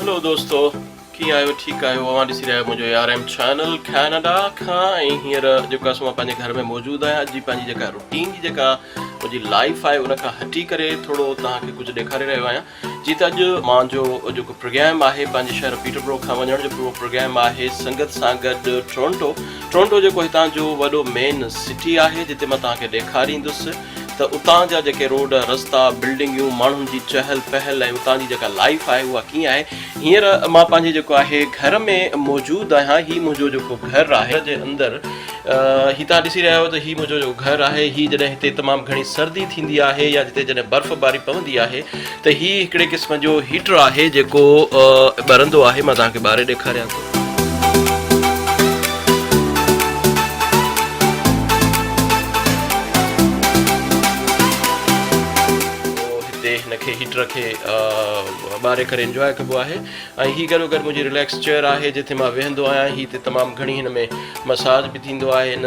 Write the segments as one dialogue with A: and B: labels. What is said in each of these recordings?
A: هلو دوستو ڪيئن آهيو ٺيڪ آهيو اوهان ڏسي رهيا آهيو منهنجو A R M channel Canada کان ۽ هينئر جيڪو آهي سو مان پنهنجي گهر ۾ موجود آهيان اڄ جي پنهنجي جيڪا روٽين جي جيڪا منهنجي لائف آهي ان کان هٽي ڪري ٿورو توهان کي ڪجهه ڏيکاري رهيو آهيان جيئن ته اڄ مان جو جيڪو پروگرام آهي پنهنجي شهر پيٽربرو کان وڃڻ جو پورو پروگرام آهي سنگت سان گڏ ٽورنٽو ٽورنٽو جيڪو هتان جو وڏو مين سٽي آهي جتي مان توهان کي ڏيکاريندس ته اتان جا جيڪي روڊ رستا بلڊنگيون ماڻهن جي چهل پهل ۽ اتان جي جيڪا لائيف آهي اها ڪيئن آهي هينئر مان پنهنجي جيڪو آهي گهر ۾ موجود آهيان هي منهنجو جيڪو گهر آهي جي اندر هي توهان ڏسي رهيا آهيو ته هي منهنجو جو گهر آهي هي جڏهن هتي تمام گهڻي سردي ٿيندي آهي يا جتي جڏهن برف باري پوندي آهي ته هي هڪڙي قسم جو هيٽر آهي جيڪو ٻرندو آهي مان توهان کي ٻاري ڏيکاريان ٿو. هتي هن کي هيٽر کي ٻاري ڪري انجواء ڪبو آهي. ۽ هي گڏو گڏ منهنجي رليڪس چيئر آهي جتي مان ويهندو آهيان هي تي تمام گهڻي هن ۾ مساج به ٿيندو آهي هن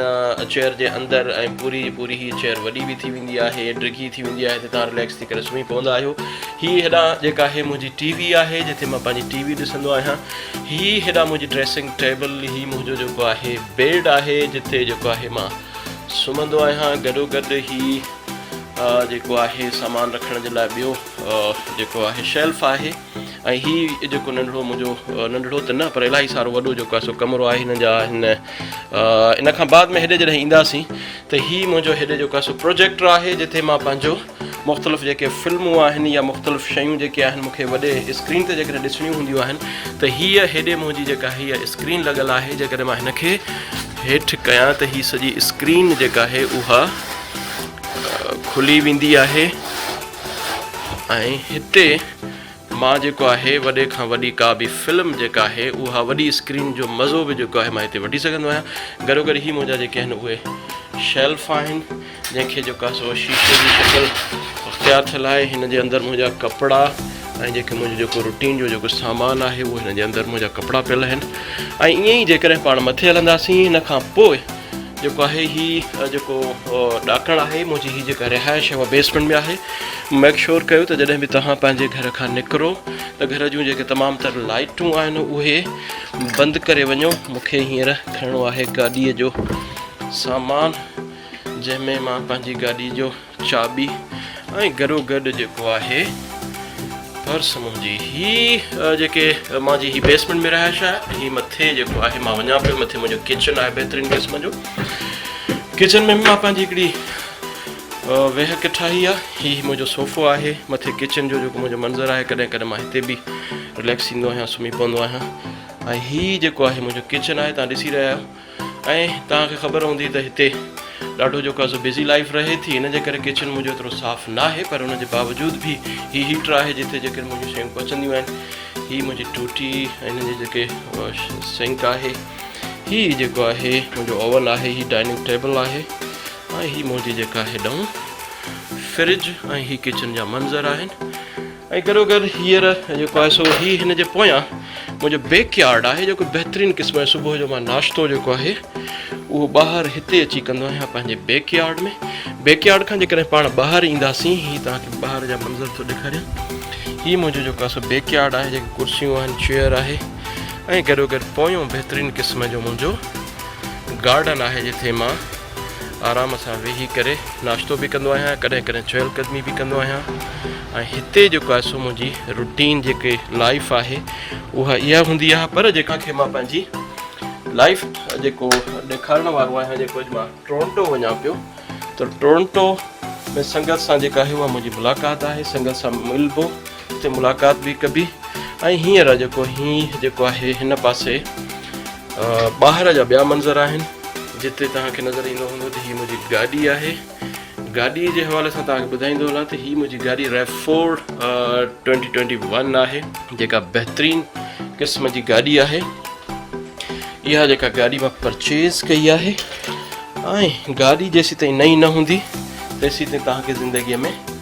A: چيئر جي اندر ۽ پوري جي پوري هي چيئر وڏي به ٿي ويندي آهي ڊگهي ٿي ويندي آهي تي تان رليڪس ٿي ڪري سمهي پوندا آهيو هي هيڏا جيڪا آهي منهنجي ٽي وي آهي جتي مان پنهنجي ٽي وي ڏسندو آهيان هي هيڏا منهنجي ڊريسنگ ٽيبل هي منهنجو جيڪو آهي بيڊ آهي جتي جيڪو آهي مان سمهندو آهيان گڏو گڏ هي جيڪو آهي سامان رکڻ جي لاء ٻيو جيڪو آهي شيلف آهي ۽ هي جيڪو ننڍڙو منهنجو ننڍڙو ته نه پر الاهي سارو وڏو جيڪو آهي سو ڪمرو آهي هن جا هن ان کان بعد ۾ هيڏي جڏهن اينداسين ته هي منهنجو هيڏي جيڪو آهي سو پروجيڪٽر آهي جتي مان پنهنجو مختلف جيڪي فلمون آهن يا مختلف شيون جيڪي آهن مونکي وڏي اسڪرين تي جيڪڏهن ڏسڻيون هونديون آهن ته هيء هيڏي منهنجي جيڪا هيء اسڪرين لڳل آهي جيڪڏهن مان هن کي هيٺ ڪيان ته هي سڄي اسڪرين جيڪا آهي اها کلي ويندي آهي ۽ هتي مان جيڪو آهي وڏي کان وڏي ڪا به فلم جيڪا آهي اها وڏي اسڪرين جو مزو به جيڪو آهي مان هتي وٺي سگهندو آهيان گڏو گڏ هي منهنجا جيڪي آهن اهي شيلف آهن جنهن کي جيڪو آهي سو شيشي جي شڪل اختيار ٿيل آهي هن جي اندر منهنجا ڪپڙا ۽ جيڪي منهنجو جيڪو روٽين جو جيڪو سامان آهي اهو هن جي اندر منهنجا ڪپڙا پيل آهن ۽ ائين ئي جيڪڏهن پاڻ مٿي هلنداسين هن کان پوء جيڪو آهي هي جيڪو ڏاڪڻ آهي منهنجي هي جيڪا رهائش آهي اها بيسمنٽ ۾ آهي ميڪ شور ڪيو ته جڏهن به توهان پنهنجي گهر کان نڪرو ته گهر جون جيڪي تمام تر لائيٽون آهن اهي بند ڪري وڃو مونکي هينئر کڻڻو آهي گاڏيء جو سامان جنهن ۾ مان پنهنجي گاڏي جو چاٻي ۽ گڏو گڏ جيڪو آهي پرس منهنجي هي جيڪي مانجي هي بيسمنٽ ۾ رهائش آهي هي مٿي جيڪو آهي مان وڃان پيو مٿي منهنجو ڪچن آهي بهترين قسم جو ڪچن ۾ مان پنهنجي هڪڙي ويهڪ ٺاهي آ هي منهنجو صوفو آهي مٿي ڪچن جو جيڪو منهنجو منظر آهي ڪڏهن ڪڏهن مان هتي به رليڪس ٿيندو آهيان سمهي پوندو آهيان ۽ هي جيڪو آهي منهنجو ڪچن آهي تان ڏسي رهيا آهيو ۽ توهان کي خبر هوندي ته هتي ڏاڍو جيڪو آهي سو بزي لائيف رهي ٿي ان جي ڪري ڪچن منهنجو ايترو صاف ناهي پر ان جي باوجود به هي هيٽر آهي جتي جيڪي منهنجون شيون پچنديون آهن هي منهنجي ٽوٽي ۽ هن جي جيڪي سنڪ آهي هي جيڪو آهي منهنجو اوون آهي هي ڊائننگ ٽيبل آهي ۽ هي منهنجي جيڪا هيڏانهن فرج ۽ هي ڪچن جا منظر آهن ۽ گڏو گڏ هينئر جيڪو آهي سو هي هن جي پويان منهنجو بيڪ يارڊ آهي جيڪو بهترين قسم جو صبح جو مان ناشتو جيڪو آهي اهو ٻاهر هتي اچي ڪندو آهيان پنهنجي بيڪ يارڊ ۾ بيڪ يارڊ کان جيڪڏهن پاڻ ٻاهر اينداسين هي توهان کي ٻاهر جا منظر ٿو ڏيکاريان هي منهنجو جيڪو آهي سو بيڪ يارڊ آهي جيڪي ڪرسيون آهن چيئر آهي ۽ گڏو گڏ پويون بهترين قسم جو منهنجو گارڊن آهي جتي مان آرام سان ويهي ڪري ناشتو به ڪندو آهيان ڪڏهن ڪڏهن چهل قدمي به ڪندو آهيان ۽ هتي جيڪو آهي سو منهنجي روٽين جيڪي لائف آهي اها اها هوندي آهي پر جيڪا کي مان پنهنجي لائف جيڪو ڏيکارڻ وارو آهيان جيڪو اڄ مان ٽورنٽو وڃا پيو ته ٽورنٽو ۾ سنگت سان جيڪا آهي اها منهنجي ملاقات آهي سنگت سان ملبو اتي ملاقات به ڪبي ۽ هينئر جيڪو هي جيڪو آهي هن پاسي ٻاهر جا ٻيا منظر آهن جتي توهان کي نظر ايندو هوندو ته هي منهنجي گاڏي آهي گاڏي جي حوالي سان توهان کي ٻڌائيندو هلان ته هي منهنجي گاڏي ريفورڊ ٽوينٽي ٽوينٽي ون آهي جيڪا بهترين قسم جي گاڏي آهي اها جيڪا گاڏي مان پرچيز ڪئي آهي ۽ گاڏي جيسي تائين نئي نه هوندي تيسي تائين توهان کي زندگيء ۾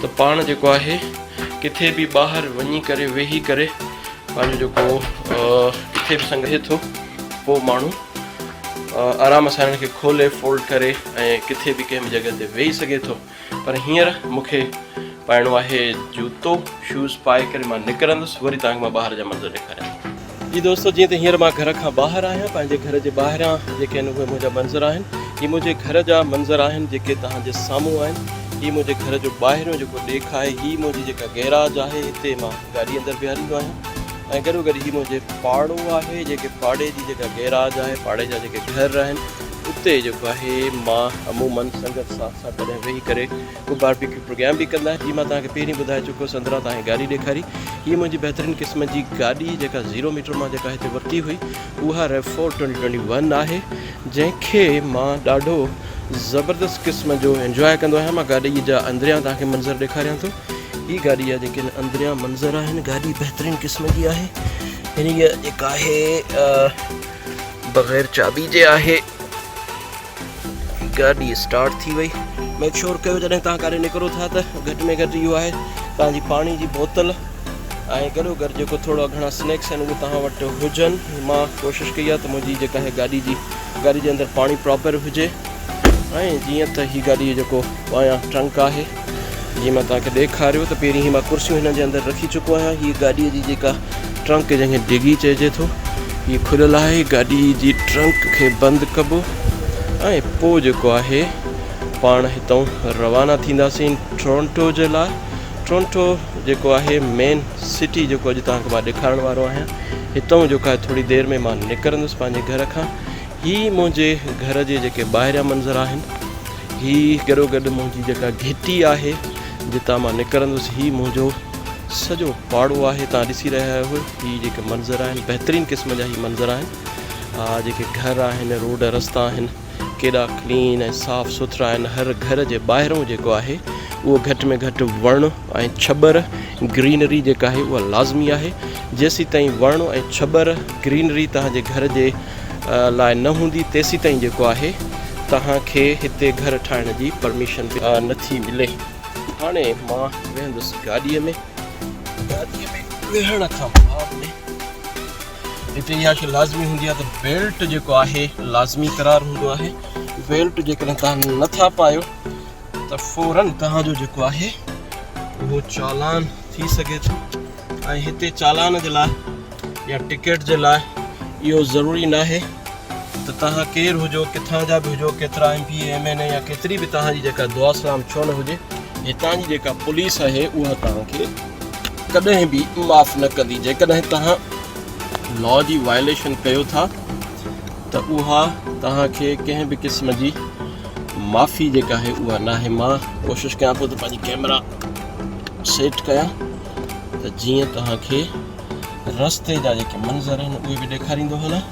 A: ته پاڻ جيڪو آهي ڪٿي به ٻاهر وڃي ڪري ويهي ڪري پنهنجو جيڪو ڪٿي به سنگهي ٿو پوء ماڻهو آرام سان هن کي کولي فولڊ ڪري ۽ ڪٿي به ڪنهن به جڳهه تي ويهي سگهي ٿو پر هينئر مونکي پائڻو آهي جوتو شوز پائي ڪري مان نڪرندس وري تانکي مان ٻاهر جا منظر ڏيکاريان جي دوستو جيئن ته هينئر مان گهر کان ٻاهر آهيان پنهنجي گهر جي ٻاهريان جيڪي آهن اهي منهنجا منظر آهن هي منهنجي گهر جا منظر آهن جيڪي توهان جي سامهون آهن هي منهنجي گهر جو ٻاهريون جيڪو ڏيک آهي هي منهنجي جيڪا گيراج آهي هتي مان گاڏي اندر بيهاريندو آهيان ۽ گڏو گڏ هي منهنجي پاڙو آهي جيڪي پاڙي جي جيڪا گيراج آهي پاڙي جا جيڪي گهر آهن اتي جيڪو آهي مان عمومن سنگت ساٿ سان ڪڏهن ويهي ڪري اهو باربيڪيو پروگرام به ڪندا آهن جي مان توهان کي پهرين ٻڌائي چڪو هوس اندران توهان کي گاڏي ڏيکاري هي منهنجي بهترين قسم جي گاڏي جيڪا زيرو ميٽر مان جيڪا هتي ورتي هئي اها RAV four twenty twenty one آهي جنهن کي مان ڏاڍو زبردست قسم جو انجواء ڪندو آهيان مان گاڏي جا اندريان توهان کي منظر ڏيکاريان ٿو هي گاڏي جا جيڪي اندريان منظر آهن گاڏي بهترين قسم جي آهي هن جيڪا آهي بغير چابي جي آهي گاڏي اسٽارٽ ٿي وئي ميڪ شور ڪيو جڏهن تان ڪاري نڪرو ٿا ته گهٽ ۾ گهٽ اهو آهي تان جي پاڻي جي بوتل ۽ گڏو گڏ جيڪو ٿورا گهڻا سنيڪس آهن اهي تان وٽ هجن مان ڪوشش ڪئي آهي ته منهنجي جيڪا هي گاڏي جي گاڏي جي اندر پاڻي پراپر هجي ۽ جيئن ته هي گاڏي جيڪو ٻاهيان ٽرنڪ آهي جي مان توهان کي ڏيکاريو ته پهرين هي مان ڪرسيون هنن جي اندر رکي چڪو آهيان هي گاڏي جي جيڪا ٽرنڪ جنهن کي ڊگي چئجي ٿو هي کليل آهي گاڏي جي ٽرنڪ کي بند ڪبو ۽ پو جيڪو آهي پاڻ هتون روانا ٿينداسين ٽرونٽو جي لاء ٽرونٽو جيڪو آهي مين سٽي جيڪو اڄ توهان کي مان ڏيکارڻ وارو آهيان هتون جيڪو آهي ٿوري دير ۾ مان نڪرندس پنهنجي گهر کان هي منهنجي گهر جي جيڪي ٻاهريان منظر آهن هي گڏو گڏ منهنجي جيڪا گهٽي آهي جتان مان نڪرندس هي منهنجو سڄو پاڙو آهي تان ڏسي رهيا آهيو هي جيڪي منظر آهن بهترين قسم جا هي منظر آهن آ جيڪي گهر آهن روڊ رستا آهن ڪيڏا ڪلين ۽ صاف سٿرا آهن هر گهر جي ٻاهرون جيڪو آهي اهو گهٽ ۾ گهٽ وڻ ۽ ڇٻر گرينري جيڪا آهي اها لازمي آهي جيسيتائين وڻ ۽ ڇٻر گرينري توهان جي گهر جي لاء نه هوندي تيسيتائين جيڪو آهي توهان کي هتي گهر ٺاهڻ جي پرميشن به نٿي ملي هاڻي مان ويهندس گاڏي ۾ گاڏي ۾ ويهڻ کان بعد ۾ هتي اها شي لازمي هوندي آهي ته بيلٽ جيڪو آهي لازمي قرار هوندو آهي بيلٽ جيڪڏهن توهان نٿا پايو ته فوراً توهان جو جيڪو آهي اهو چالان ٿي سگهي ٿو ۽ هتي چالان جي لاء يا ٽڪيٽ جي لاء اهو ضروري نه آهي ته توهان ڪير هجو ڪٿان جا به هجو ڪيترا M P M N A يا ڪيتري به توهان جي جيڪا دعا سلام ڇو نه هجي هتان جي جيڪا پوليس آهي اها توهان کي ڪڏهن به معاف نه ڪندي جيڪڏهن توهان لا جي وائليشن ڪيو ٿا ته اها توهان کي ڪنهن به قسم جي معافي جيڪا آهي اها ناهي مان ڪوشش ڪيان پيو ته پنهنجي ڪيمرا سيٽ ڪيان ته جيئن توهان کي رستي جا جيڪي منظر آهن اهي به ڏيکاريندو هلان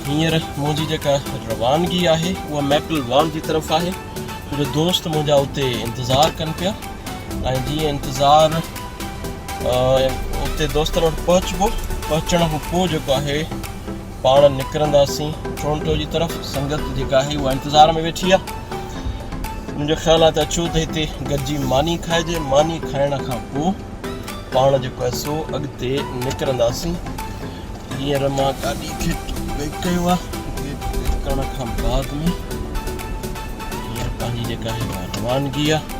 A: هينئر منهنجي جيڪا روانگي آهي اها ميپل وان جي طرف آهي جو دوست منهنجا اتي انتظار ڪن پيا ۽ جيئن انتظار اتي دوستن وٽ پهچبو پهچڻ کان پوء جيڪو آهي پاڻ نڪرنداسين ٽورنٽو جي طرف سنگت جيڪا آهي اها انتظار ۾ ويٺي آهي منهنجو خيال آهي ته اچو ته هتي گڏجي ماني کائجي ماني کائڻ کان پوء پاڻ جيڪو آهي سو اڳتي نڪرنداسين هينئر مان گاڏي کي ويڪ ڪيو آهي ڪرڻ کان بعد ۾ هينئر پنهنجي جيڪا آهي روانگي آهي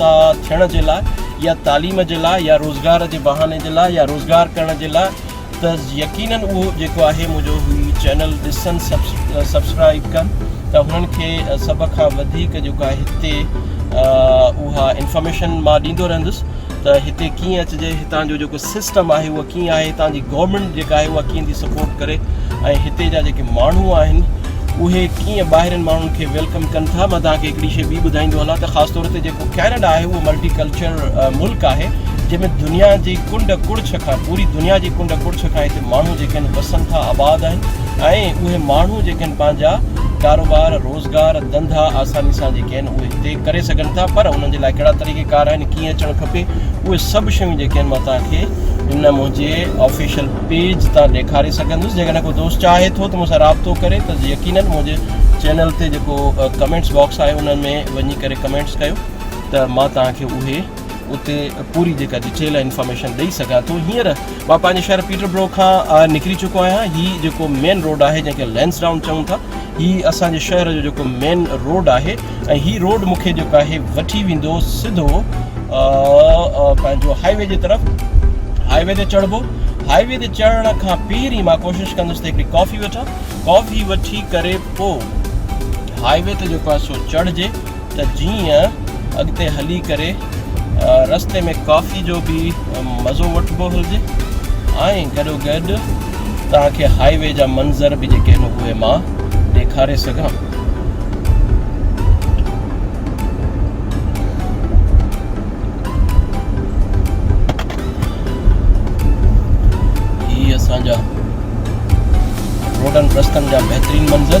A: تا ٿيڻ جي لاء يا تعليم جي لاء يا روزگار جي بهاني جي لاء يا روزگار ڪرڻ جي لاء ته يقينن اهو جيڪو آهي منهنجو هي چينل ڏسن سبسڪرائب ڪن ته هنن کي سڀ کان وڌيڪ جيڪو آهي هتي اها انفارميشن مان ڏيندو رهندس ته هتي ڪيئن اچجي هتان جو جيڪو سسٽم آهي اهو ڪيئن آهي هتان جي گورنمينٽ جيڪا آهي اها ڪيئن ٿي سپورٽ ڪري ۽ هتي جا جيڪي ماڻهو آهن اهي ڪيئن ٻاهرين ماڻهن کي ويلڪم ڪن ٿا مان تان کي هڪڙي شيء ٻي ٻڌائيندو هلان ته خاص طور تي جيڪو ڪينيڊا آهي اهو ملٽي ڪلچر ملڪ آهي جنهن ۾ دنيا جي ڪنڊ ڪڙڇ کان پوري دنيا جي ڪنڊ ڪڙڇ کان هتي ماڻهو جيڪي آهن وسن ٿا آباد آهن ۽ اهي ماڻهو جيڪي آهن پنهنجا ڪاروبار روز ڪار ڌنڌا آساني سان جيڪي آهن اهي هتي ڪري سگهن ٿا پر انهن جي لاء ڪهڙا طريقي ڪار آهن ڪيئن اچڻ کپي اهي سڀ شيون جيڪي آهن مان توهان کي ان منهنجي آفيشل پيج تان ڏيکاري سگهندس جيڪڏهن ڪو دوست چاهي ٿو ته مون سان رابطو ڪري ته يقينن منهنجي چينل تي جيڪو ڪمينٽس باڪس آهي ان ۾ وڃي ڪري ڪمينٽس ڪيو ته مان توهان کي اهي اتي پوري جيڪا ڊيٽيل آهي انفارميشن ڏئي سگهان ٿو هينئر مان پنهنجي شهر پيٽر برو کان نڪري چڪو آهيان هي جيڪو مين روڊ آهي جنهن کي لينس ڊائون چئون ٿا هي اسانجي شهر جو جيڪو مين روڊ آهي ۽ هي روڊ مونکي جيڪو آهي وٺي ويندو سڌو پنهنجو هاء وي جي طرف هاء وي تي چڙهبو هاء وي تي چڙهڻ کان پهرين مان ڪوشش ڪندس ته هڪڙي ڪافي وٺان ڪافي وٺي ڪري پوء هاء وي تي جيڪو آهي سو چڙهجي ته جيئن اڳتي هلي ڪري رستي ۾ ڪافي جو به مزو وٺبو هلجي ۽ گڏو گڏ توهان کي هاء وي جا منظر به جيڪي آهن اهي مان ڏيکاري سگهان هي اسان جا روڊن رستن جا بهترين منظر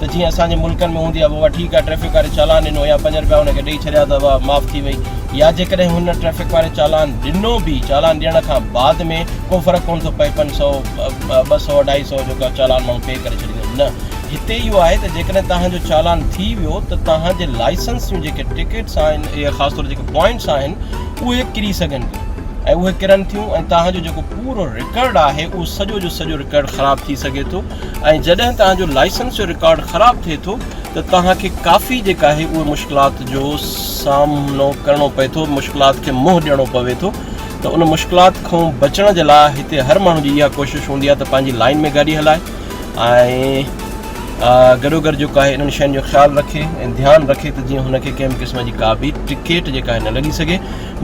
A: ته جيئن اسان جي ملڪن ۾ هوندي آهي بابا ٺيڪ آهي ٽريفڪ واري چالان ڏنو يا پنج رپيا هن کي ڏئي ڇڏيا ته واهه معاف ٿي وئي يا جيڪڏهن هن ٽريفڪ واري چالان ڏنو به چالان ڏيڻ کان بعد ۾ ڪو فرق ڪونه ٿو پئي پنج سئو ٻه سئو اڍائي سئو جو ڪا چالان ماڻهو پي ڪري ڇڏيندو نه هتي اهو آهي ته جيڪڏهن توهان جو چالان ٿي ويو ته توهان جي لائسنس جون جيڪي ٽڪيٽس آهن اهي خاص طور جيڪي پوائنٽس آهن اهي ڪري سگهن ٿيون ۽ اهي ڪرن ٿيون ۽ توهان جو جيڪو پورو رڪارڊ آهي اهو سڄو جو سڄو رڪارڊ خراب ٿي سگهي ٿو ۽ جڏهن توهان جو لائسنس جو رڪارڊ خراب ٿئي ٿو ته توهان کي ڪافي جيڪا آهي اهي مشڪلات جو سامنو ڪرڻو پئي ٿو مشڪلات کي منهن ڏيڻو پوي ٿو ته ان مشڪلات کان بچڻ جي لاء هتي هر ماڻهو جي اها ڪوشش هوندي آهي ته پنهنجي لائن ۾ گاڏي هلائي ۽ گڏو گڏ جيڪو آهي انهن شين جو خيال رکي ۽ ڌيان رکي ته جيئن هن کي ڪنهن به قسم جي ڪا به ٽڪيٽ جيڪا آهي نه لڳي سگهي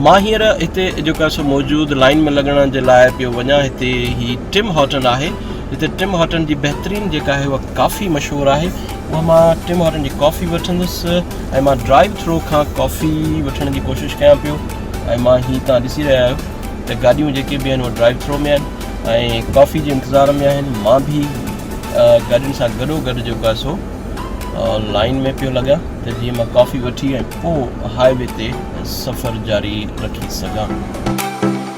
A: مان هينئر هتي جيڪو آهي سو موجود لائن ۾ لڳڻ جي لاء پيو وڃان هتي هي ٽم هوٽل آهي جتي ٽم هارٽن جي بهترين جيڪا آهي اها ڪافي مشهور آهي اها مان ٽم هارٽن جي ڪافي وٺندس ۽ مان ڊرائيو ٿرو کان ڪافي وٺڻ جي ڪوشش ڪيان پيو ۽ مان هي تان ڏسي رهيا آهيو ته گاڏيون جيڪي به آهن اهي ڊرائيو ٿرو ۾ آهن ۽ ڪافي جي انتظار ۾ آهن مان به گاڏين سان گڏو گڏ جيڪو آهي سو لائن ۾ پيو لڳا ته جيئن مان ڪافي وٺي ۽ پوء هاء وي تي سفر جاري رکي سگهان